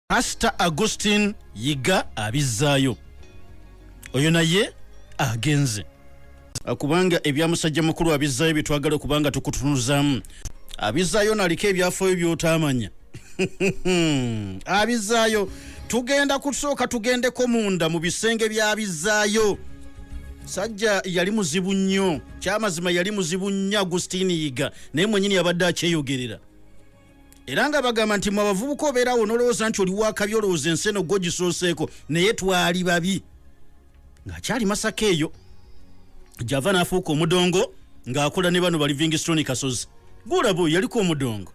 pastor agustin yiga abizzaayo oyo naye agenze ah, kubanga ebya musajja mukulu abizzaayo byetwagala okubanga tukutunuzaamu abizzaayo naliko ebyafayo byotaamanya abizzaayo tugenda kusooka tugendeko munda mu bisenge byabizzaayo sajja yali muzibu nnyo kyamazima yali muzibu nnyo agustin yiga naye mwenyini yabadde akyeyogerera era nga bagamba nti mwe abavubuka obeerawo nolowooza nti oli wakabi olowooza ensi eno gwogisooseeko naye twali babi ng'akyali masaka eyo gyava n'afuuka omudongo ng'akola ne bano ba livingstone kasozi gulabo yaliko omudongo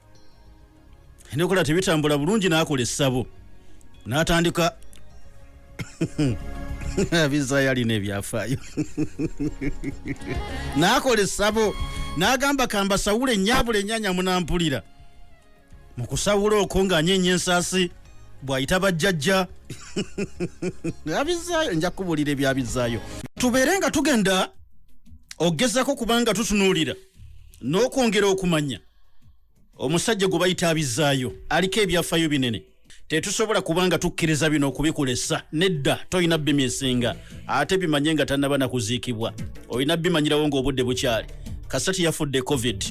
endokola tebitambula bulungi n'akola essabo n'atandika abizaayo alina ebyafaayo naakola essabo n'agamba kambasawule nnyabula ennyanya munampulira mu kusawula okwo ng'anyeenya ensaasi bw'ayita bajjajja abizaayo nja kubuulira ebyabizaayo tubeere nga tugenda okugezako kubanga tutunuulira n'okwongera okumanya omusajja gwe bayita abizaayo aliko ebyafayo binene tetusobola kubanga tukkiriza bino okubikulesa nedda tolina bimi esinga ate bimanye nga tanaba nakuziikibwa olina bimanyirawo ngaobudde bukyali kasita teyafudde covid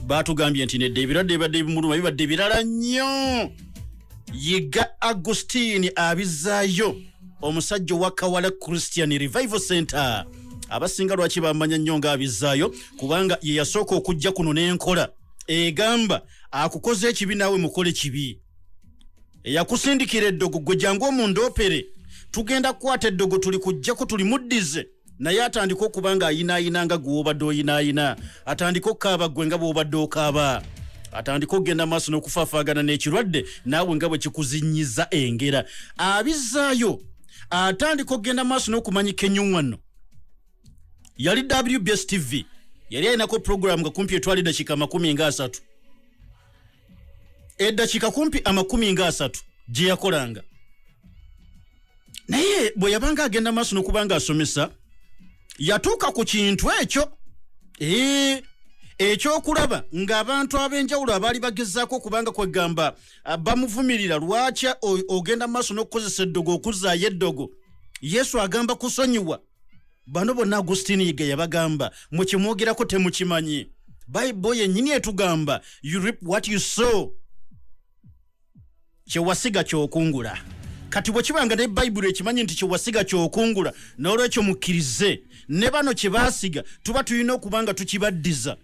batugambye nti nedda ebirwadde bibadde bimuluma bibadde birala nnyo yiga agustini abizaayo omusajja owa kawala christian revival center abasinga lwaki bamanya nnyo ngaabizaayo kubanga yeyasooka okujja kuno n'enkola egamba akukoze ekibi naawe mukole kibi eyakusindikira eddogo gwe jangu omundoopere tugenda kukwata eddogo tuli kujjako tuli muddize naye atandika okuba nga ayinaayina nga gwe obadde oyinaayina atandika okukaaba gwe nga bwobadde okaaba atandika okugenda maaso n'okufafaagana n'ekirwadde naawe nga bwe kikuzinyiza engera abizaayo atandika okugenda maaso n'okumanyika enyuŋwano yali wbs tv yali alinako puroguramu nga kumpi etwala eddakiika amakumi nga asatu eddakiika kumpi amakumi nga asatu gye yakolanga naye bwe yabanga agenda maaso nokuba nga asomesa yatuuka ku kintu ekyo ee ekyokulaba ng'abantu ab'enjawulo abaali bagezaako okubanga kwegamba ah, bamuvumirira lwaki ogenda mu maaso n'okukozesa eddogo okuzaayo eddogo yesu agamba kusonyiwa bano bonna agustini yiga yabagamba mwekimwogerako temukimanyi bayibo yenyini etugamba you rip what you saw kyewasiga kyokungula kati bwe kibanga ne bayibuli ekimanyi nti kyewasiga kyokungula n'olwekyo mukkirize ne bano kye baasiga tuba tulina okuba nga tukibaddiza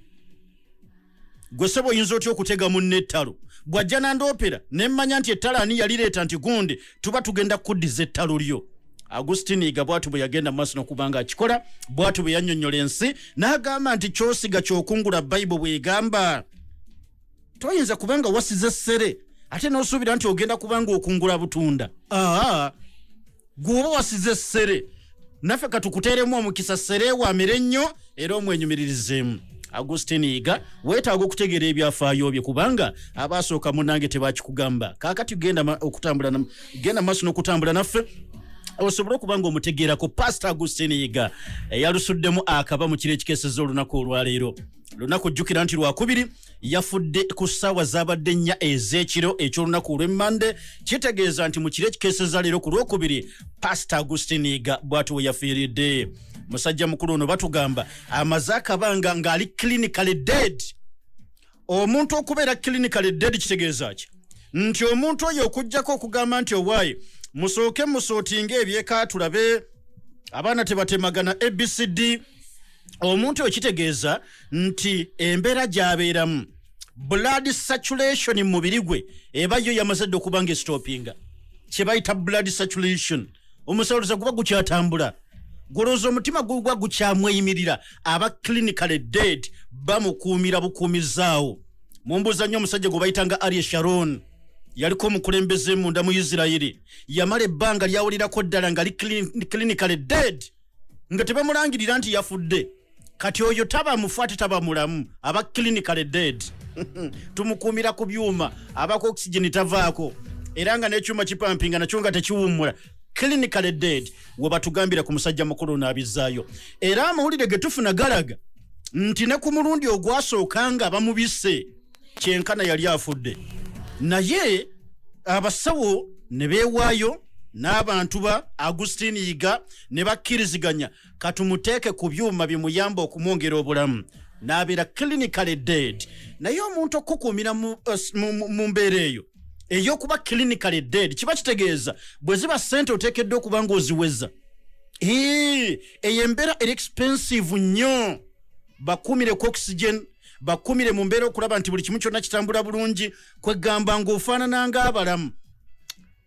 gwe sebo oyinza otya okutega munne ettalo bw'ajja nandoopera ne mmanya nti ettalo ani yalireeta nti gundi tuba tugenda kuddiza ettalo lyo agustin iga bwatu bwe yagenda maaso nokuba nga akikola bwatu bwe yannyonnyola ensi n'agamba nti kyosiga kyokungula bayibo bwegamba toyinza kuba nga wasiza essere ate n'osuubira nti ogenda kuba nga okungula butunda aa gwoba wasize sere naffe katukuteeremu omukisa sere wamire nnyo era omwenyumiririzemu agustin yiga weetaaga okutegeera ebyafaayo bye kubanga abaasooka munange tebakikugamba kaakati genda okutambula genda maaso n'okutambula naffe osobole okuba nga omutegeerako pasita agustin yiga eyalusuddemu akaba mu kiro ekikeeseza olunaku olwaleero lunaku ojjukira nti lwakubiri yafudde ku ssaawa zaabadde nnya ez'ekiro eky'olunaku olw'emmande kitegeeza nti mu kiro ekikeeseza leero ku lwokubiri pasita agustiniga bwati we yafiiridde musajja mukulu ono batugamba amaze akabanga ng'ali clinicaly dead omuntu okubeera clinicaly dead kitegeeza ki nti omuntu oyo okugyako okugamba nti owaaye musooke musootinga ebyekaatulabe abaana tebatemagana abcd omuntu oyo kitegeeza nti embeera gyabeeramu blood saturation mu mubiri gwe eba yo yamaze dde okuba nga esitopinga kye bayita blood saturation omusawuluza guba gukyatambula gulowooza omutima guba gukyamweyimirira aba clinical dead bamukuumira bukuumizaawo mumbuuza nnyo omusajja gwe bayita nga arie sharon yaliko omukulembeze munda mu isirairi yamala ebbanga lyawulirako ddala nga li clinical dead nga tebamulangirira nti yafudde kati oyo taba mufu ate taba mulamu aba clinical dead tumukuumira ku byuma abako oxygen tavaako era nga n'ekyuma kipampinga nakyo nga tekiwummula clinical dead webatugambira ku musajja mukulu naabizzaayo era amawulire ge tufuna galaga nti ne ku mulundi ogwasooka nga bamubise kyenkana yali afudde naye abasawo ne beewaayo n'abantu ba agustin yiga ne bakkiriziganya katumuteeke ku byuma bimuyamba okumwongera obulamu n'abeera clinicaly dead naye omuntu okukukuumira mu eh, mbeera eyo ey'okuba clinicaly dead kiba kitegeeza bwe ziba ssente oteekeddwa okuba ng'oziweza eyo embeera eri expensive nnyo bakuumireko oxygen bakumire mu mbeera okulaba nti buli kimu kyonna kitambula bulungi kwegamba ng'ofaanana ng'abalamu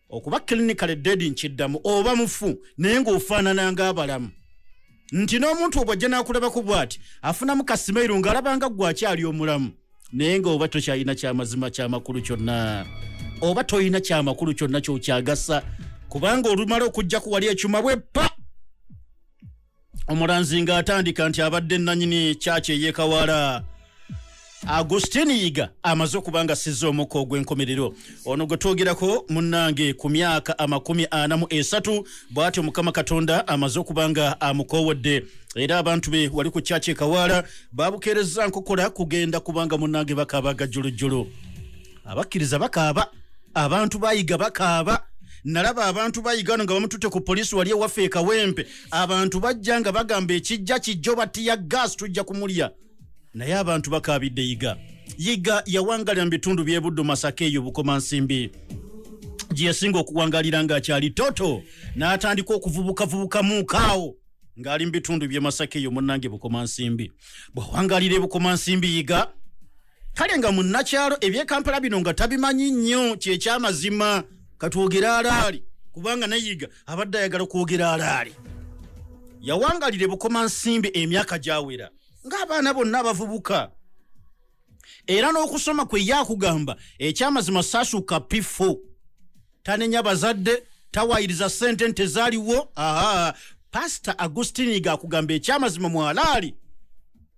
okuba clinical ded nkiddamu oba mufu naye ng'ofaanana ng'abalamu nti n'omuntu obw ajja n'akulabaku bw'ati afunamu kasimairu ng'alaba nga gwe akyali omulamu naye ng'oba tokyalina kyamazima kyamakulu kyonna oba tolina kyamakulu kyonna kyokyagasa kubanga olumala okujjaku wali ekyuma bwe pa omulanzi nga atandika nti abadde nanyini kyaki eyekawaala agustin yiga amaze okuba nga sizza omukka ogw'enkomerero ono gwe twogerako munnange ku myaka amakumi ana mu esatu bw'atyo mukama katonda amaze okuba nga amukoowodde era abantu be wali ku kyaki ekawaala babukeerezza nkokola kugenda kubanga munnange bakaaba agajjulujjulu abakkiriza bakaaba abantu bayiga bakaaba nalaba abantu bayiga no nga bamututte ku poliisi wali ewaffe ekawempe abantu bajja nga bagamba ekijja kijjo batiya gas tujja kumulya naye abantu bakaabidde yiga yiga yawangalira mu bitundu byebuddu masaka eyo bukoma nsimbi gye yasinga okuwangalira ng'akyali toto n'atandika okuvubukavubuka muukaawo ng'ali mu bitundu bye masaka eyo munnange bukoma nsimbi bw'awangalira ebukoma nsimbi yiga kale nga munnakyalo ebyekampala bino nga tabimanyi nnyo kyekyamazima katwogere alaali kubanga nayiga abadde ayagala kwogera alaali yawangalira ebukoma nsimbi emyaka gyawera ng'abaana bonna abavubuka era n'okusoma kwe yakugamba ekyamazima saasuka pifo tanenya bazadde tawayiriza sente nte zaliwo aha pasita agustini gakugamba ekyamazima mwalaali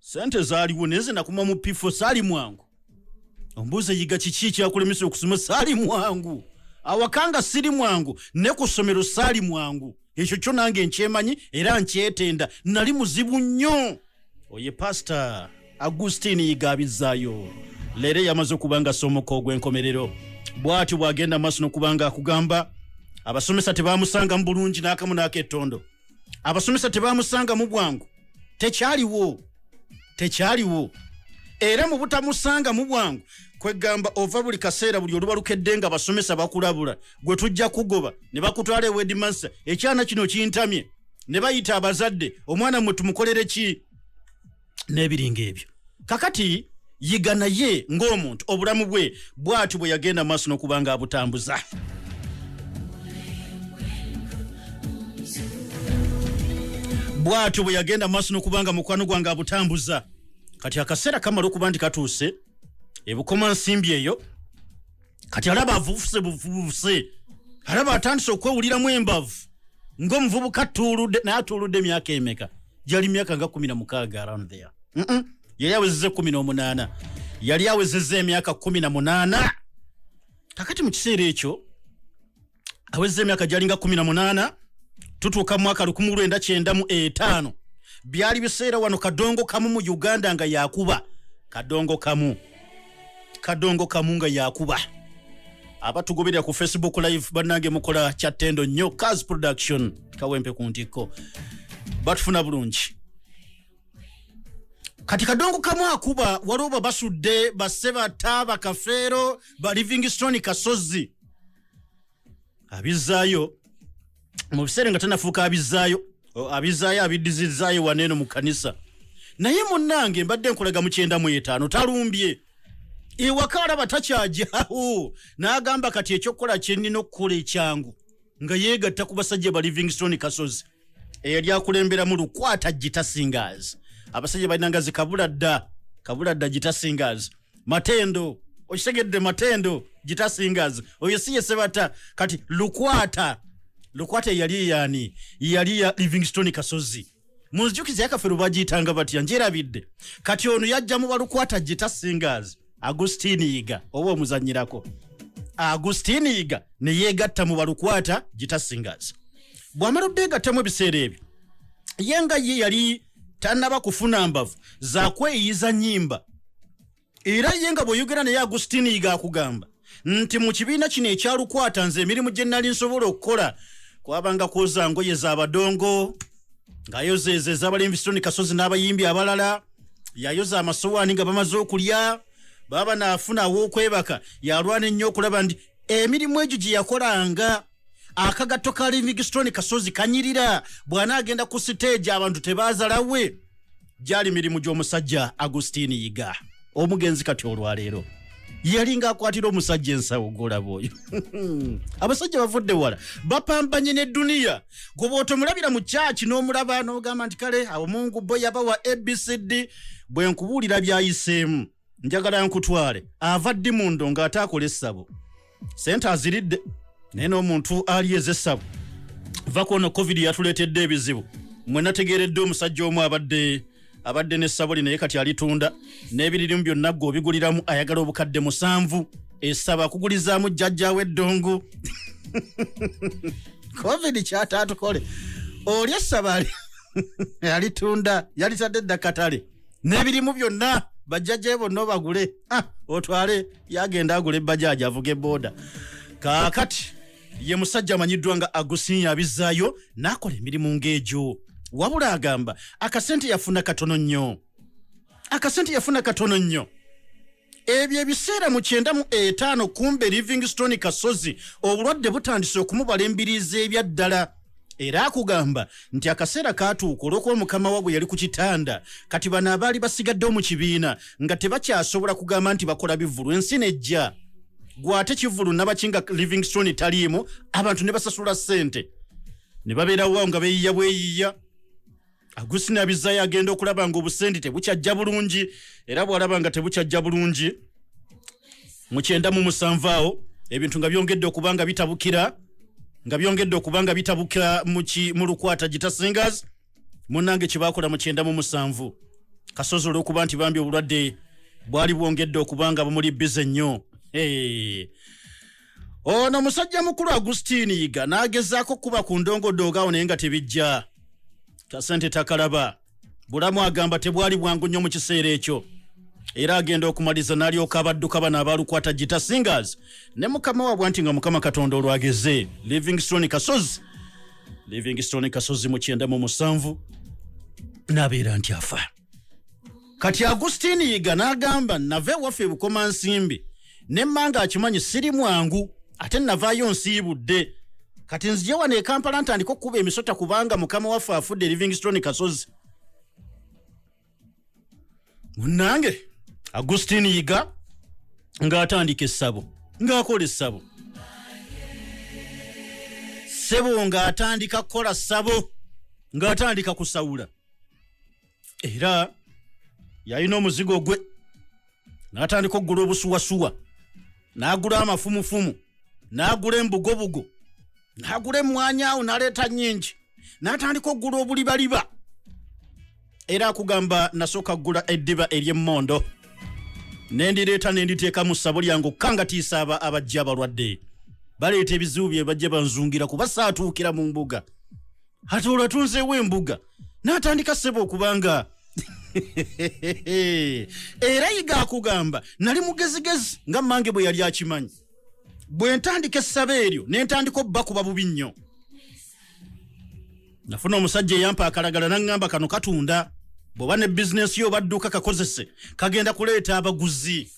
sente zaliwo naye nze nakuma mu pifo saali mwangu ombuuza yiga kiki ekyakulemesa okusoma saali mwangu awakanga siri mwangu ne ku ssomero saali mwangu ekyo kyo nange nkyemanyi era nkyetenda nali muzibu nnyo oye pasita agusitini yigabizaayo leero eyamaze okuba nga somuka ogw'enkomerero bw'atyo bw'agenda maaso n'okuba nga akugamba abasomesa tebamusangamu bulungi n'akamu n'akettondo abasomesa tebamusangamu bwangu tekyaliwo tekyaliwo era mu butamusangamu bwangu kwegamba ova buli kaseera buli oluba lukedde nga basomesa bakulabula gwe tujja kugoba ne bakutwala ewedimansa ekyana kino kintamye ne bayita abazadde omwana mwe tumukolere ki n'ebiringa ebyo kakati yiga naye ng'omuntu obulamu bwe bwatyo bwe yagenda maaso n'okuba nga abutambuza bwatyo bwe yagenda maaso n'okuba nga mukwano gwange abutambuza kati akaseera kamala okuba nti katuuse ebukomansimbi eyo kati alaba avuvuse buvuvuse alaba atandise okwewuliramu embavu ngaomuvubuka atuuludde naye atuuludde emyaka emeka gyali myaka nga kumi na mukaaga around there yali awezeza ekumi n'omunaana yali awezeza emyaka kumi na munaana kakati mu kiseera ekyo awezza emyaka gyalinga 18 tutuuka mu mwaka 1995 byali biseera wano kadongo kamu mu uganda nga yakuba kadongo kamu kadongo kamu nga yakuba abatugoberera ku facebook live banange mukola kyattendo nnyo cas production kawempe ku ntikko batufuna bulungi kati kadongo kamu akuba waliwo babasudde basse bata bakafeero ba livingstone kasozi abizzaayo mu biseera nga tanafuuka abizzaayo abizzaayo abiddizizzaayo wana eno mu kanisa naye munnange mbadde nkulaga mu kyenda mu etaano talumbye ewaka alaba takyajawo n'agamba kati ekyokukola kye nnina okukola ekyangu nga yeegatta ku basajja ba livingstone kasozi eyali akulemberamu lukwata gita singers abasajja balinanga zi kabula dda kabula dda gita singers matendo okitegedde matendo gita singers oyo si yesebata kati lukwata lukwata eyali eyani yali ya livingstone kasozi munzijukiza yakafero bagiyitanga batya njerabidde kati ono yajja mu balukwata gita singers agustin yiga oba omuzanyirako agustin yiga ne yeegatta mu balukwata gita singers bw'amala obbeegattamu ebiseera ebyo ye nga ye yali tannaba kufuna mbavu zakweyiyiza nyimba era ye nga bw'oyogera naye agustin yiga akugamba nti mu kibiina kino ekyalukwata nze emirimu gye nnali nsobola okukola kwabanga kwoza ngoye za badongo ng'ayozeeza ez'abalembi sitoni kasozi n'abayimbi abalala yayoza amasowaani nga bamaze okulya baba naafuna aw'okwebaka yalwana ennyo okulaba nti emirimu egyo gye yakolanga akagatto ka livingstone kasozi kanyirira bw'anaagenda ku siteegi abantu tebaazalawe gyali mirimu gy'omusajja agustin yiga omugenzi kati olwaleero yali ng'akwatira omusajja ensawo golaba oyo abasajja bavudde wala bapambanye ne duniya gweba otomulabira mu kyaki n'omulaba n'ogamba nti kale awo mungu bo yabawa abcd bwe nkubuulira byayiseemu njagala nkutwale ava ddi mundo ng'ate akola essabo sente aziridde naye n'omuntu ali ezessabo va kwono covid yatuleetedde ebizibu mwe nategeeredde omusajja omu abadde abadde ne sabuli naye kati alitunda n'ebiririmu byonna gwe obiguliramu ayagala obukadde musanvu esaba kugulizaamu jjajjawo eddongo covid kyataatukole oli essaba alitunda yalitadde dda katale n'ebirimu byonna bajjajjaye bonna obagule ah, otwale yagenda agula ebbajaaji avuga ebooda kaakati ye musajja amanyiddwa nga agusinya abizzaayo n'akola emirimu ng'egyo wabula agamba akasente yafuna katono nnyo akasente yafuna katono nnyo Ebyo ebiseera mu kyenda mu etaano kumbe Livingstone Kasozi obulwadde butandise okumubala embiriizi ebyaddala era akugamba nti akaseera kaatuuka olw'okuba mukama wa bwe yali ku kitanda kati bano abaali basigaddewo mu kibiina nga tebakyasobola kugamba nti bakola bivulu ensi nejja gwe ate kivulu nabaki nga Livingstone taliimu abantu ne basasula ssente ne babeerawo nga beeyiya bweyiya agusina bizayo agenda okulaba nga obusendi tebukyajja bulungi era bwalaba nga tebukyajja bulungi mukyenda mu musanvu awo ebintu nga byongedde okuba nga bitabukira nga byongedde okuba nga bitabukira mu lukwata gita singers munange kyebakola mukyenda mu musanvu kasozi olwokuba nti bambi obulwadde bwali bwongedde okuba nga bumuli bize nnyo ono musajja mukulu agustin yiga n'agezaako kuba ku ndongodongo awo naye nga tebijja kasente takalaba bulamu agamba tebwali bwangu nnyo mu kiseera ekyo era agenda okumaliza n'alyoka abadduka bano abaalukwata gita singers ne mukama wabwa nti nga mukama katonda olwageze livingstone kasozi livingstone kasozi mu kyenda mu musanvu n'abeera nti afa kati agusitini yiga n'agamba nava ewaffe ebukoma nsimbi ne mmanga akimanyi siri mwangu ate navaayo nsiibudde kati nzije wano ekampala ntandika okukuba emisota kubanga mukama waffe afudde livingstone kasozi munange agustin yiga ng'atandika essabo ng'akola essabo sebo ng'atandika kukola ssabo ng'atandika kusawula era yalina omuzigo gwe n'atandika okugula obusuwasuwa n'agula amafumufumu n'agula embugobugo n'agula emmwanyi awo n'aleeta nnyingi n'atandika okugula obulibaliba era akugamba nasooka kugula eddiba ery'emmondo ne ndireeta ne nditeeka mu ssabo lyange okukangatiisa aba abajja abalwadde baleeta ebizibu bye bajja banzungira kuba saatuukira mu mbuga ate olwo atunzeewo embuga n'atandika ssebo okuba nga era yiga akugamba nali mugezigezi nga mmange bwe yali akimanyi bwe ntandika essaba eryo ne ntandika obubakuba bubi nnyo nafuna omusajja eyampa akalagala naŋŋamba kano katunda bw'oba ne bizinensi yo obadduuka kakozese kagenda kuleeta abaguzi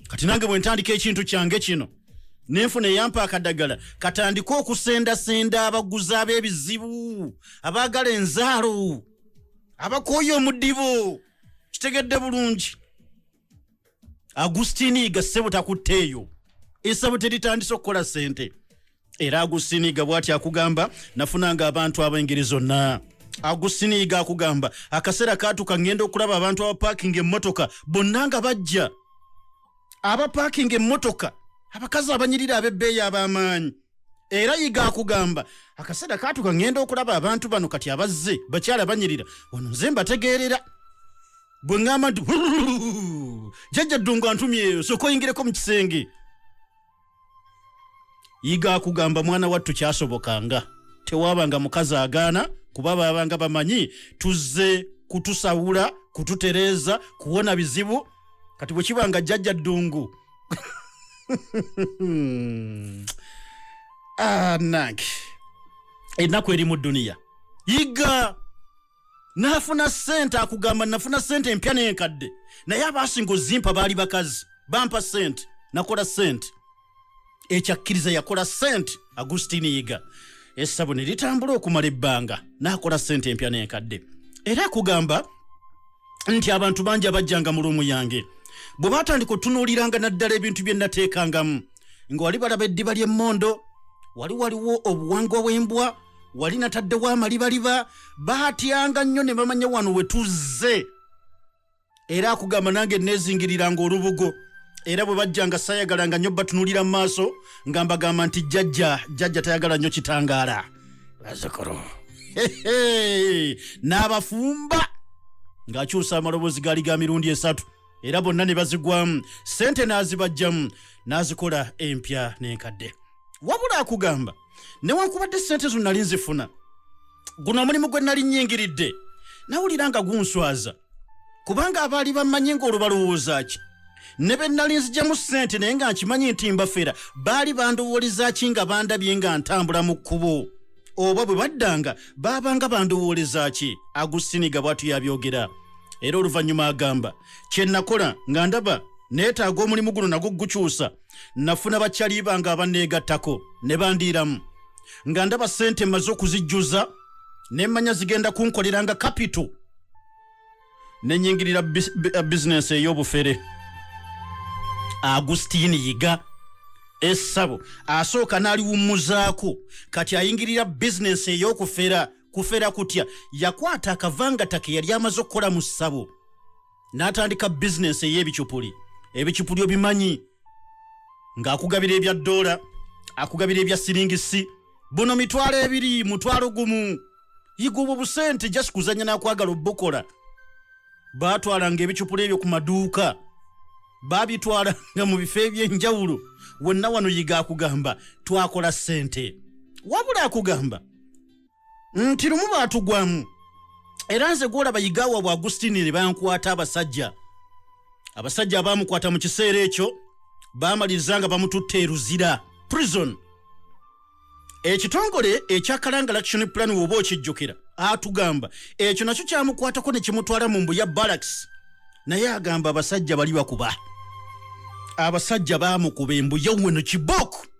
kati nange bwe ntandika ekintu kyange kino nenfuna eyampa akadagala katandike okusendasenda abaguzi ab'ebizibu abaagala enzaalo abakooye omudibo kitegedde bulungi agustini ga ssebo takutte eyo esabo teritandise okukola ssente era agusiniiga bwati akugamba nafunanga abantu ab'engeri zonna agusiniiga akugamba akaseera kaatuka ŋŋenda okulaba abantu abapakinga emmotoka bonna nga bajja abapaakinga emmotoka abakazi abanyirira ab'ebbeeyi ab'amaanyi era yiga akugamba akaseera kaatuka ŋŋenda okulaba abantu bano kati abazze bakyala banyirira ono nze mbategeerera gwe ŋŋamba nti jajja ddungu antumyeyo sooka oyingireko mu kisenge yiga akugamba mwana wattu kyasobokanga tewabanga mukazi agaana kuba babanga bamanyi tuzze kutusawula kututereeza kuwona bizibu kati bwe kiba nga jjajja ddungu anange ah, ennaku eri mu duniya yiga n'afuna ssente akugamba nafuna ssente empya n'enkadde naye abaasinga ozimpa baali bakazi bampa ssente nakola ssente ekyakkiriza yakola ssente agustini yiga essabo ne litambula okumala ebbanga n'akola ssente empya n'enkadde era akugamba nti abantu bangi abajjanga mu luumu yange bwe baatandika otunuuliranga naddala ebintu bye nateekangamu nga wali balaba eddiba ly'emmondo wali waliwo obuwangwa bw'embwa wali nataddewo amalibaliba baatyanga nnyo ne bamanya wano we tuzze era akugamba nange neezingiriranga olubugo era bwe bajjanga sayagalanga nnyo batunulira mu maaso nga mbagamba nti jjajja jjajja tayagala nnyo kitangaala bazukulu n'abafumba ng'akyusa amaloboozi gaali ga mirundi esatu era bonna ne bazigwamu ssente n'azibajjamu n'azikola empya n'enkadde wabula akugamba newankubadde ssente zo nali nzifuna guno omulimu gwe nali nnyingiridde nawulira nga gunswaza kubanga abaali bammanyi ng'olwo balowooza ki ne be nali nzijamu ssente naye nga nkimanyi nti mbafera baali bandowooleza ki nga bandabye nga ntambula mu kkubo oba bwe baddanga baabanga bandowooleza ki agusiniga bwatu yabyogera era oluvannyuma agamba kye nakola nga ndaba neetaaga omulimu guno nagwo gukyusa nafuna bakyali bange abanneegattako ne bandiiramu nga ndaba ssente mmaze okuzijjuza ne mmanya zigenda kunkolera nga kapito ne nyingirira bizinensi ey'obufere agusitiini yiga essabo asooka n'aliwummuzaako kati ayingirira bizinensi ey'okufera kufera kutya yakwata akavangata ke yali amaze okukola mu ssabo n'atandika bizinensi ey'ebicupuli ebicupuli obimanyi ng'akugabira ebya ddoola akugabira ebya siringisi buno mitwalo ebiri mutwalo gumu yiga obwo busente just kuzanya nakwagala obukola batwalanga ebicupula ebyo ku maduuka babitwalanga mu bifo ebyenjawulo wonna wano yiga akugamba twakola sente wabula akugamba nti lumu baatugwamu era nze gwolaba yigawa bwa agustini ne bankwata abasajja abasajja abaamukwata mu kiseera ekyo baamaliriza nga bamututte eruzira prison ekitongole ekya kalanga laction plan woba okijjukira atugamba ekyo nakyo kyamukwatako ne kimutwala mu mbu ya baraks naye agamba abasajja bali bakuba abasajja baamukuba embuya weno kiboku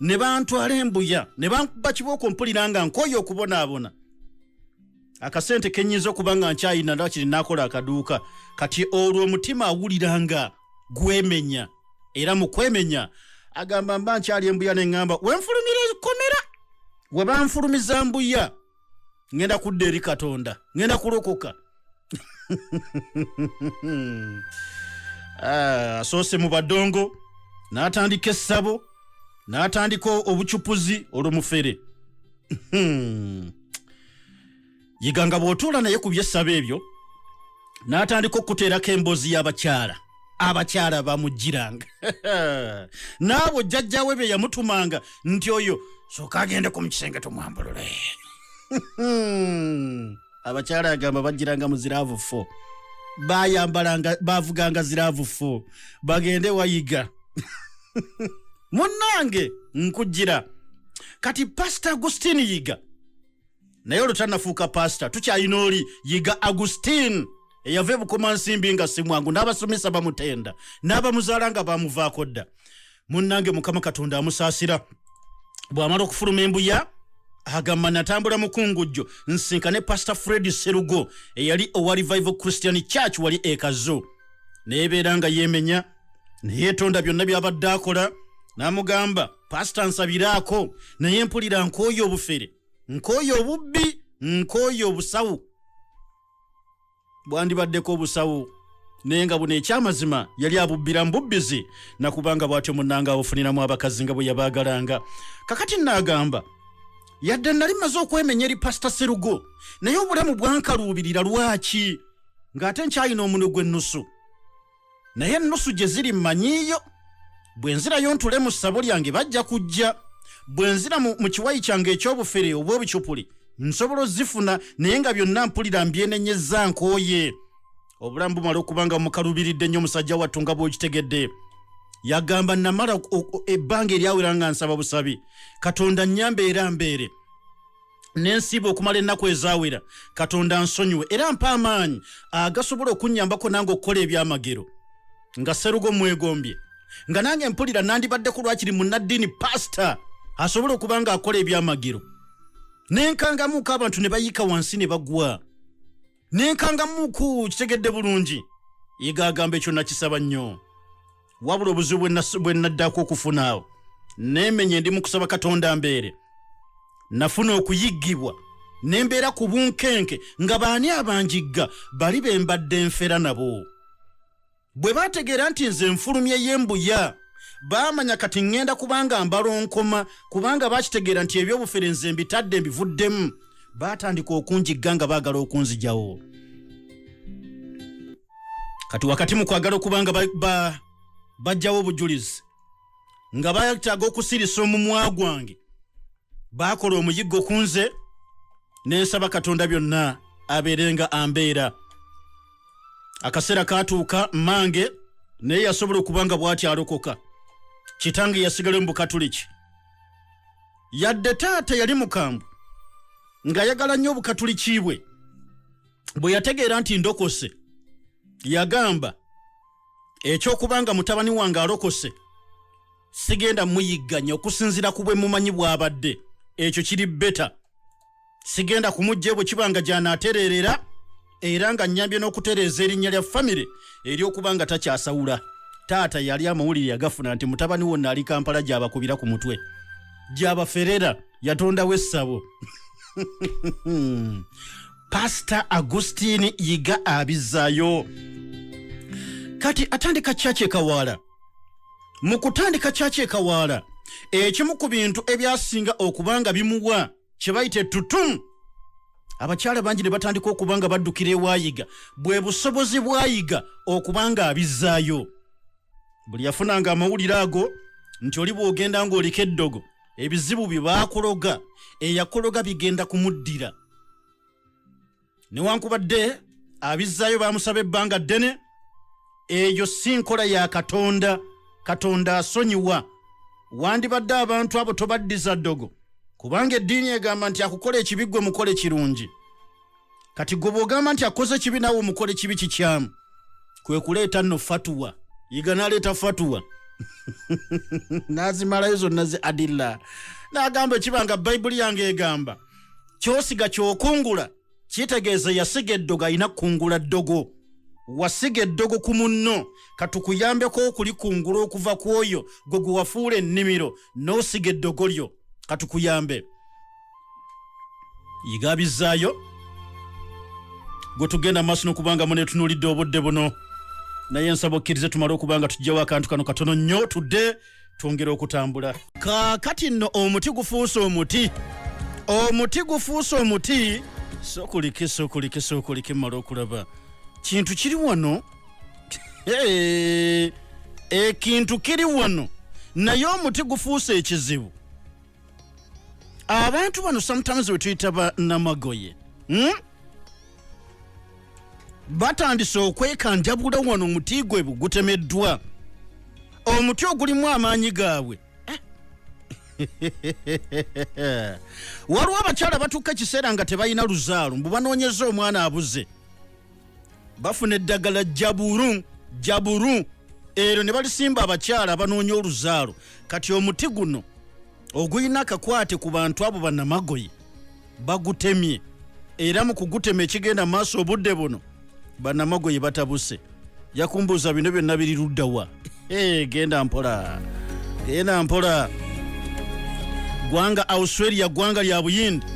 ne bantwala embuya ne bankuba kibooko mpulira nga nkooye okubonaabona akasente kenyinza okuba nga nkyayina nakiri nakola akaduuka kati olwo omutima awulira nga gwemenya era mu kwemenya agamba mba nkyali embuya neŋŋamba wenfulumira ekkomera webanfulumiza mbuya ŋŋenda kudda eri katonda ŋŋenda kulokoka ah, asoose mu badongo n'atandika essabo n'atandika obucupuzi olwomufere hmm. yiga nga bw'otuula naye ku byessabo ebyo n'atandika okukuteerako emboozi y'abakyala abakyala bamujjiranga naabo jjajjawe bye yamutumanga nti oyo soka agende ku mukisenge tumwambulule abakyala agamba bajjiranga mu ziraavu fo bayambalanga bavuganga ziraavu fo bagende wayiga munnange nkujjira kati pasita agustin yiga naye olutanafuuka paasita tukyalina oli yiga agustin eyava ebukoma nsimbi nga simwangu n'abasomesa bamutenda n'abamuzaala nga bamuvaako dda munnange mukama katonda amusaasira bw'amala okufuluma embuya agamba natambula mukungujjo nsinka ne pasita fred serugo eyali owa revival christian church wali ekazo neebeera nga yeemenya neyeetonda byonna by'abadde akola n'amugamba pasita nsabiraako naye mpulira nkooyo obufere nkooye obubbi nkooye obusawo bwandibaddeko obusawo naye nga buno ekyamazima yali abubbira mububbizi nakubanga bwatyo munanga abufuniramu abakazi nga bwe yabaagalanga kakati naagamba yadde nali maze okwemenya eri pasita serugo naye obulamu bwankaluubirira lwaki ng'ate nkyalina omuno gw'ennusu naye ennusu gye ziri mmanyiiyo bwe nzirayo ntule mu ssabo lyange bajja kujja bwe nzira mu kiwayi kyange eky'obufere obw'obucupuli nsobola ozifuna naye nga byonna mpulira mbyenenyezza nkooye obulamu bumala okuba nga mukalubiridde nnyo omusajja wattu nga bw'okitegedde yagamba namala ebbanga eryawera nga nsaba busabi katonda nnyamba era mbeere nensiiba okumala ennaku ezaawera katonda nsonyiwe era mpa amaanyi agasobola okunnyambako nange okukola ebyamagero nga serugo mwegombye nga nange mpulira nandibadde ku lwakiri munnaddiini pasita asobola okuba nga akola ebyamagero nenkangamuuko abantu ne bayiika wansi ne bagwa nenkanga muku kitegedde bulungi yiga agamba ekyo nakisaba nnyo wabula obuzibu bwe naddako okufuna awo nemenye ndi mukusaba katonda mbeere nafuna okuyiggibwa nembeera ku bunkenke nga baani abanjigga bali bembadde nfera nabo bwe baategeera nti nze nfulumye y'embuya baamanya kati ŋŋenda kubanga mbalonkoma kubanga baakitegeera nti ebyobufere nze mbitadde mbivuddemu baatandika okunjigga nga baagala okunzijawo kati wakati mu kwagala okuba nga bajjawo obujulizi nga bataaga okusirisa omumwa gwange baakola omuyiggo ku nze ne nsaba katonda byonna abeerenga ambeera akaseera kaatuuka mmange naye yasobola okuba nga bw'ati alokoka kitange yasigala mu bukatuliki yadde taata yali mukambwe ng'ayagala nnyo obukatuliki bwe bwe yategeera nti ndokose yagamba ekyokuba nga mutabani wange alokose sigenda muyigganya okusinziira ku bwe mumanyi bw'abadde ekyo kiri beta sigenda kumujja bwe kiba nga gyanaatereerera era nga nnyambye n'okutereeza erinnya lya famire eryokuba nga takyasawula taata yali amawulire yagafuna nti mutabani wonna ali kampala gy'abakubira ku mutwe gyabaferera yatondawo essabo pasita agustini yiga abizayo kati atandika kyaki ekawaala mu kutandika kyaki ekawaala ekimu ku bintu ebyasinga okuba nga bimuwa kye bayita etutumu abakyala bangi ne batandika okuba nga baddukira ewayiga bwe busobozi bwayiga okuba nga abizzaayo buli yafunanga amawulire ago nti oli bw'ogenda ng'oliko eddogo ebizibu bye baakuloga eyakuloga bigenda kumuddira newankubadde abizzaayo baamusaba ebbanga ddene eyo si nkola ya katonda katonda asonyiwa wandibadde abantu abo tobaddiza ddogo kubanga eddiini egamba nti akukola ekibi gwe mukole kirungi kati gwe bwogamba nti akoze ekibi nawe omukole kibi kikyamu kwe kuleeta nno fatuwa yiga naleeta fatuwa nazimalayo zonna zi adilla nagamba ekibanga bayibuli yange egamba kyosiga kyokungula kitegeeza yasiga eddogo alina kukungula ddogo wasiga eddogo ku munno katukuyambeko okulikungula okuva ku oyo gwe gwewafuula ennimiro n'osiga eddogo lyo katukuyambe yigabizaayo gwe tugenda maaso nokubanga mune tunulidde obudde buno naye nsaba okkirize tumale okubanga tujjawo akantu kano katono nnyo tudde twongera okutambula kakati nno omuti gufuuse omuti omuti gufuuse omuti sokulike sokulike sokulike mala okulaba kintu kiri wano ekintu kiri wano naye omuti gufuuse ekizibu abantu bano sometimes wetuyita ba namagoye hmm? batandise okwekanjabula wano omuti gwe gutemeddwa omuti ogulimu amaanyi gaabwe waliwo abakyala batuuka ekiseera nga tebalina luzaalo mbu banoonyeza omwana abuze bafuna eddagala jaburu jaburu ero ne balisimba abakyala abanoonya oluzaalo kati omuti guno ogulina akakwate ku bantu abo banamagoye bagutemye era mu kugutema ekigenda mu maaso obudde buno banamagoye batabuse yakumbuuza bino byonna biriruddawa Hey, genda mpola genda mpola gwanga australia gwanga lya buyindi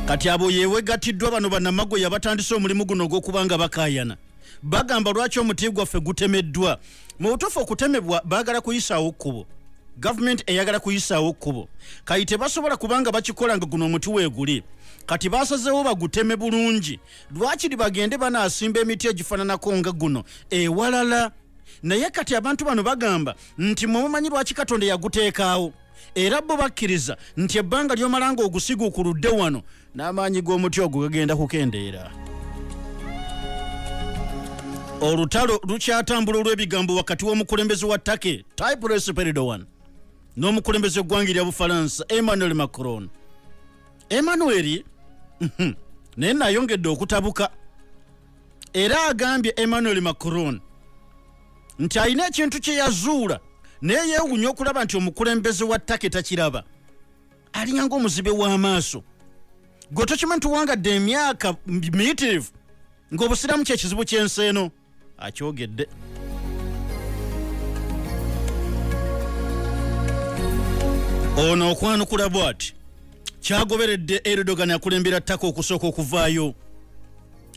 kati abo yewegatiddwa bano banamago yabatandise omulimu guno ogwokuba nga bakayana bagamba lwaki omuti gwaffe gutemeddwa mu butuufu okutemebwa baagala kuyisaawo kkubo gavumenti eyagala kuyisaawo kkubo kati tebasobola kubanga bakikola nga guno omuti weeguli kati basazeewo baguteme bulungi lwakiri bagende banasimba emiti egifananako nga guno ewalala naye kati abantu bano bagamba nti mwe mumanyi lwaki katonda yaguteekaawo era bo bakkiriza nti ebbanga lyomala nga ogusigu ku ludde wano n'amaanyi g'omuti ogwo gagenda kukendeera olutalo lukyatambula olw'ebigambo wakati w'omukulembeze wa take typres peridoan n'omukulembeze eggwanga erya bufalansa emmanuel macron emmanuel mhm, naye nayongedde okutabuka era agambye emmanuel macron nti alina ekintu kye yazuula naye yeewunya okulaba nti omukulembeze wa take takiraba alinga ngaomuzibe w'amaaso gwe tokimanyi tuwangadde emyaka miyitirivu ng'obusiraamu kyekizibu ky'ensi eno akyogedde ono okwanukula bwati kyagoberedde erudogan akulembera ttaka okusooka okuvaayo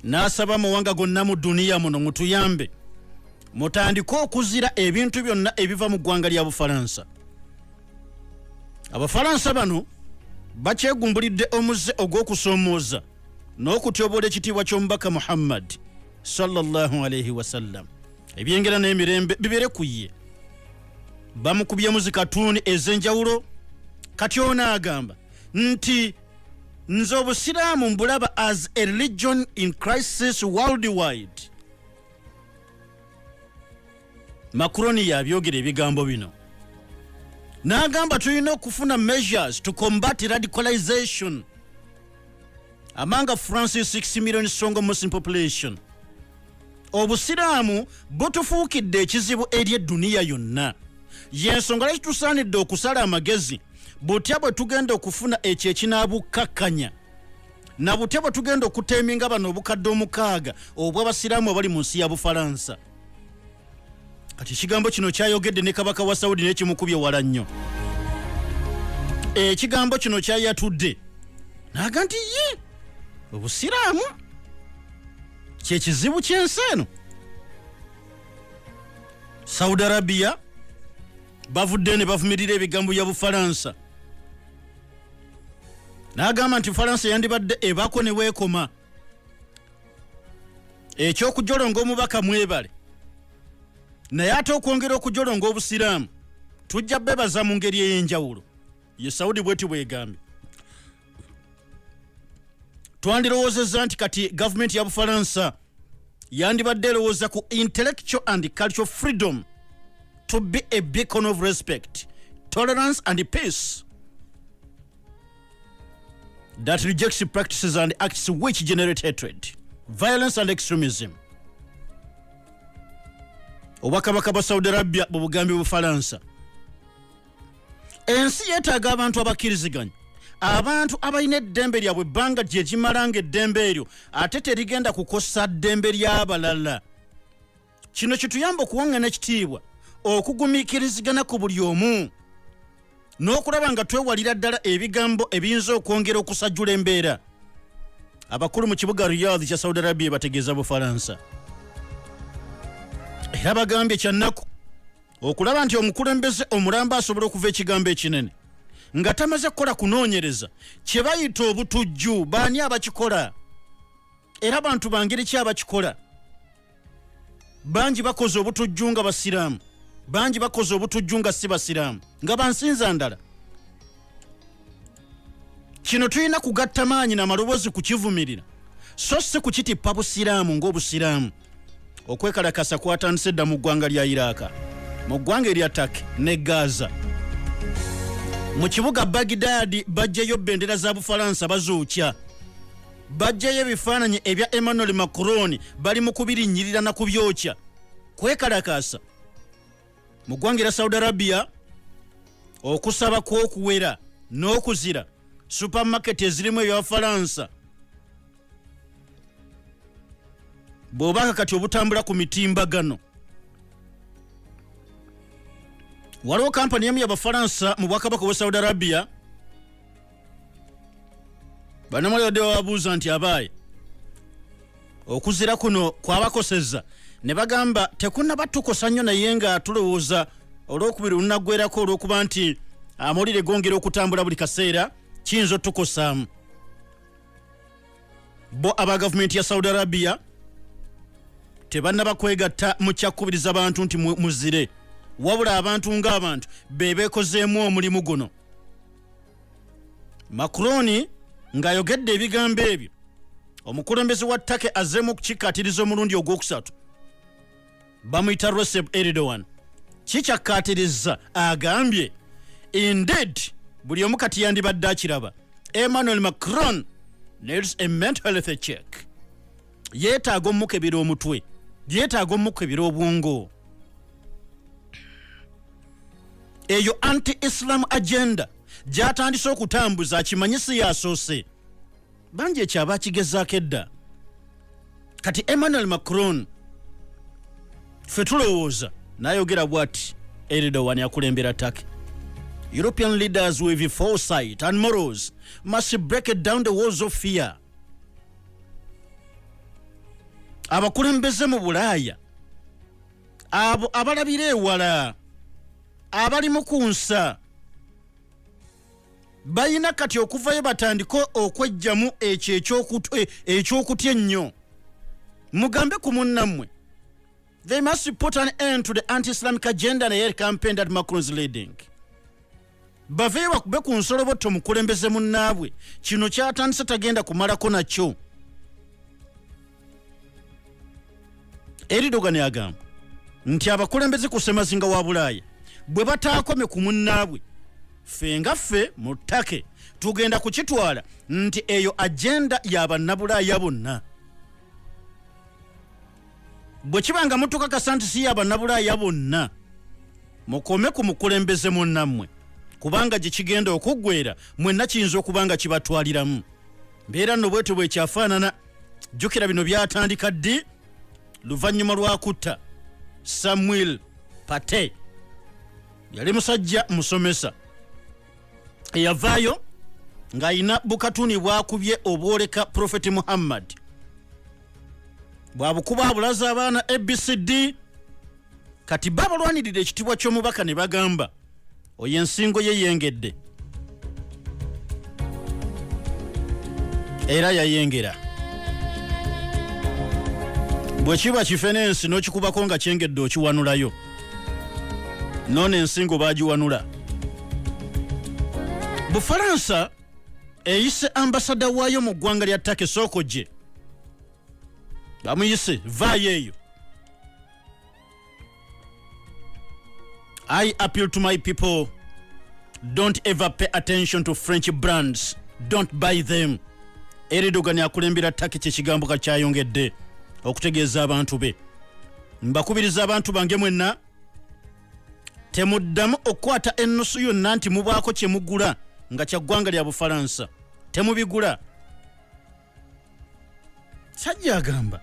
n'asaba amawanga gonna mu duniya muno mutuyambe mutandike okuzira ebintu byonna ebiva mu ggwanga lya bufalansa abafalansa bano bakyegumbulidde omuze ogw'okusoomooza n'okutyobola ekitiibwa ky'omubaka muhammadi sallallahu alaihi wasallam ebyengera n'emirembe bibere ku ye bamukubyemu zikatuuni ez'enjawulo kati ono agamba nti nze obusiraamu mbulaba as a religion in crisis worldwide makuroni yabyogera ebigambo bino n'agamba tulina okufuna measures to combat radicalization among francis 6 million strong muslim population obusiraamu butufuukidde ekizibu eri edduniya yonna yensonga lwaki tusaanidde okusala amagezi butya bwe tugenda okufuna ekyo ekinabukkakkanya na butya bwe tugenda okuteeminga bano obukadde omukaaga obw'abasiraamu abali mu nsi ya bufalansa kati ekigambo kino kyayogedde ne kabaka wa saudi nekimukubye wala nnyo ekigambo kino kyayatudde naga nti ye obusiraamu kyekizibu kyensi eno saudi arabia bavuddeyo ne bavumirira ebigambo bya bufalansa n'agamba nti falansa yandibadde ebako ne weekoma ekyokujolonga omubaka mwebale naye ate okwongera okujolonga obusiraamu tujja bebaza mu ngeri ey'enjawulo ye saudi bweti bwegambye twandirowoozezza nti kati gavumenti ya bufalansa yandibadde erowooza ku intellectual and cultural freedom to be a beacon of respect tolerance and peace that rejects practices and acts which generate hatred, violence and extremism. obwakabaka bwa saudi arabia bwe bugambye bufalansa ensi yeetaaga abantu abakkiriziganya abantu abalina eddembe lyabwe ebbanga gyegimala nga eddembe eryo ate terigenda kukosa ddembe ly'abalala kino kituyamba okuwaŋŋana ekitiibwa okugumiikirizigana ku buli omu n'okulaba nga twewalira ddala ebigambo ebiyinza okwongera okusajjula embeera abakulu mu kibuga riyadh kya saudi arabia bategeeza bufalansa era bagambye kyannaku okulaba nti omukulembeze omulamba asobola okuva ekigambo ekinene nga tamaze kukola kunoonyereza kye bayita obutujju baani abakikola era bantu bangeri ki abakikola bangi bakoze obutujju nga basiraamu bangi bakoze obutujju nga si basiraamu nga bansinza ndala kino tulina kugatta maanyi namaloboozi kukivumirira so si kukitippa busiraamu ng'obusiraamu okwekalakasa kwatandise dda mu ggwanga lya iraaka mu ggwanga erya take ne gaza mu kibuga bagidaadi bajjayo bendera za bufalansa bazuukya Bajjayo ebifaananyi ebya Emmanuel Macron bali mu kubirinnyirira na kubyokya kwekalakaasa mu ggwanga era Saudi Arabia okusaba kw'okuwera n'okuzira supermarket ezirimu ebyafalansa bw'obanga kati obutambula ku mitimbagano waliwo kampani emu yabafalansa mu bwakabaka obwa saudi arabia banamwali badde bababuuza nti abaaye okuzira kuno kwabakoseza ne bagamba tekunaba tukosa nnyo naye nga tulowooza olwokubiri olunaggwerako olwokuba nti amawulire gongera okutambula buli kaseera kiyinza otukosaamu bo aba gavumenti ya saudi arabia tebanaba kwegatta mu kyakkubiriza bantu nti muzire wabula abantu ng'abantu be beekozeemu omulimu guno macroni ng'ayogedde ebigambo ebyo omukulembeze wa take azzeemu okukikkaatiriza omulundi ogwokusatu bamuyita recep eridoan kikyakkaatirizza agambye indeed buli omu kati yandibadde akiraba emmanuel macron needs a mental health check yeetaaga omukebera omutwe yeetaaga omukebera obwongo eyo anti islam agenda gyatandise okutambuza akimanyi si yasoose bangi ekyo aba akigezaako edda kati emmanuel macron fe tulowooza nayogera bwati eridowan akulembera take european leaders with foresight and morals must break it down the walls of fear abakulembeze mu bulaaya abo abalabira ewala abali mu ku nsa balina kati okuvayo batandike okwejjamu ekyo e, ekyokutya ennyo mugambe ku munnammwe they must put an end to the anti islamic agenda naye campaign that macrons leading baveyo bakube ku nsolobotto mukulembeze munnaabwe kino kyatandise tagenda kumalako nakyo eridogani agamba nti abakulembeze ku semazinga wa bulaaya bwe bataakome ku munnaabwe ffe nga ffe mu ttake tugenda kukitwala nti eyo agenda ya bannabulaaya bonna bwe kiba nga mutukakasa nti si ya bannabulaaya bonna mukome ku mukulembeze munnammwe kubanga gye kigenda okuggwera mwenna kiyinza okuba nga kibatwaliramu mbeera nno bwetyo bwekyafaanana jjukira bino byatandika ddi luvannyuma lwa kutta samuel pate yali musajja musomesa eyavaayo ng'alina bukatuni bwakubye obwoleka profeti muhammad bwabukuba abulaza abaana abcd kati babalwanirira ekitibwa ky'omubaka ne bagamba oyo ensingo ye yengedde era yayengera bwe kiba kife n'ensi n'okikubako nga kyengedde okiwanulayo noona ensingo bagiwanula bufalansa eyise ambasada waayo mu ggwanga lya take sooko gye bamuyise vaayo eyo I appeal to my people don't ever pay attention to French brands, don't buy them. Eridogan akulembera taki kyekigambo kakyayongedde okutegeeza abantu be. Mbakubiriza abantu bange mwenna temuddamu okukwata ennusu yonna nti mubaako kye mugula nga kya ggwanga lya Bufalansa. Temubigula. sajja agamba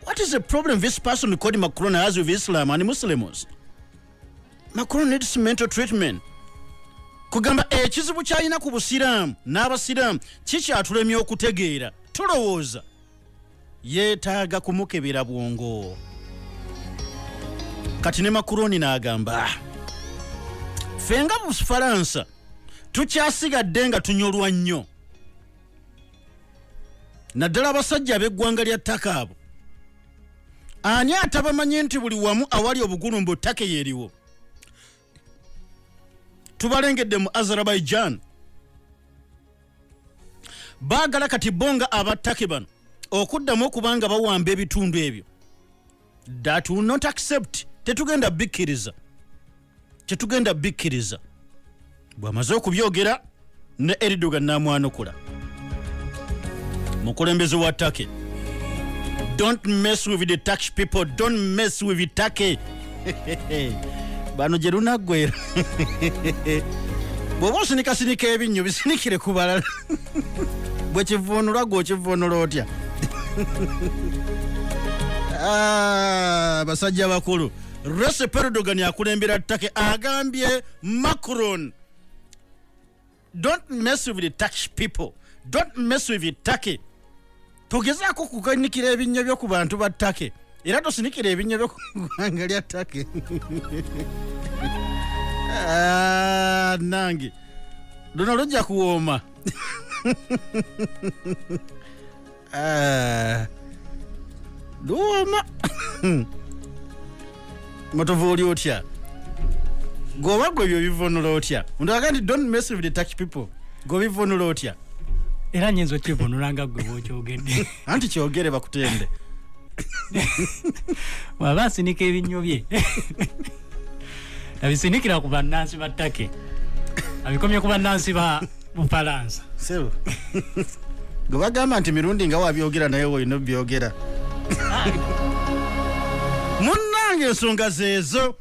what is the problem this person called macron has with islam and muslims macron needs mental treatment kugamba ekizibu kyalina ku busiraamu n'abasiraamu kikyatulemya okutegeera tulowooza yeetaaga kumukebera bwongo kati ne makuroni n'agamba ffe nga bufaransa tukyasigadde nga tunyolwa nnyo naddala abasajja ab'eggwanga lya ttaka abo ani atabamanyi nti buli wamu awali obugulumbu ttaka yeeriwo tubalengedde mu azerbaijan baagala kati bo nga abattake bano okuddamu okuba nga bawamba ebitundu ebyo that will not accept tetugenda bikkiriza tetugenda bikkiriza bw'amaze okubyogera ne eridogan n'amwanukula mukulembeze wa take don't mess with the tax people don't mess with the take bano gye lunaggwera bw'oba osinikasinika ebinnyo bisinikire ku balala bwe kivuunula gwe okivuunula otya ah, basajja bakulu Recep Erdogan akulembera Turkey agambye Macron don't mess with the Turkish people don't mess with Turkey tugezaako kuganikira ebinnya byo ku bantu ba Turkey era tosinikira ebinnya byo ku ggwanga lya Turkey ah, nange luno lujja kuwooma Eh, duuma matovu oli otya gwoba gwe ebyo bivunula otya ondaga nti don't mess with the touch people gwe bivunula otya era nyinza okivunula nga gwe bwokyogedde anti kyogere bakutende waba asinika ebinnyo bye nabisindikira ku bannansi ba take abikomye ku bannansi ba bufalansa sebo gwe bagamba nti mirundi nga wabyogera naye wolina obyogera munnange ensonga zeezo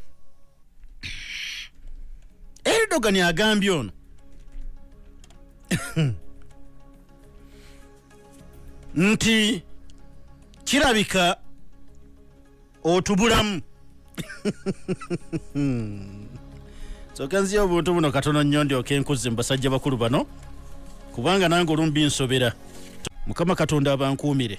eridogani agambye ono nti kirabika otubulamu soka nziya obuntu buno katono nnyo ndyoka enkuzi mu basajja bakulu bano kubanga nange olumbi nsobera mukama katonda abankuumire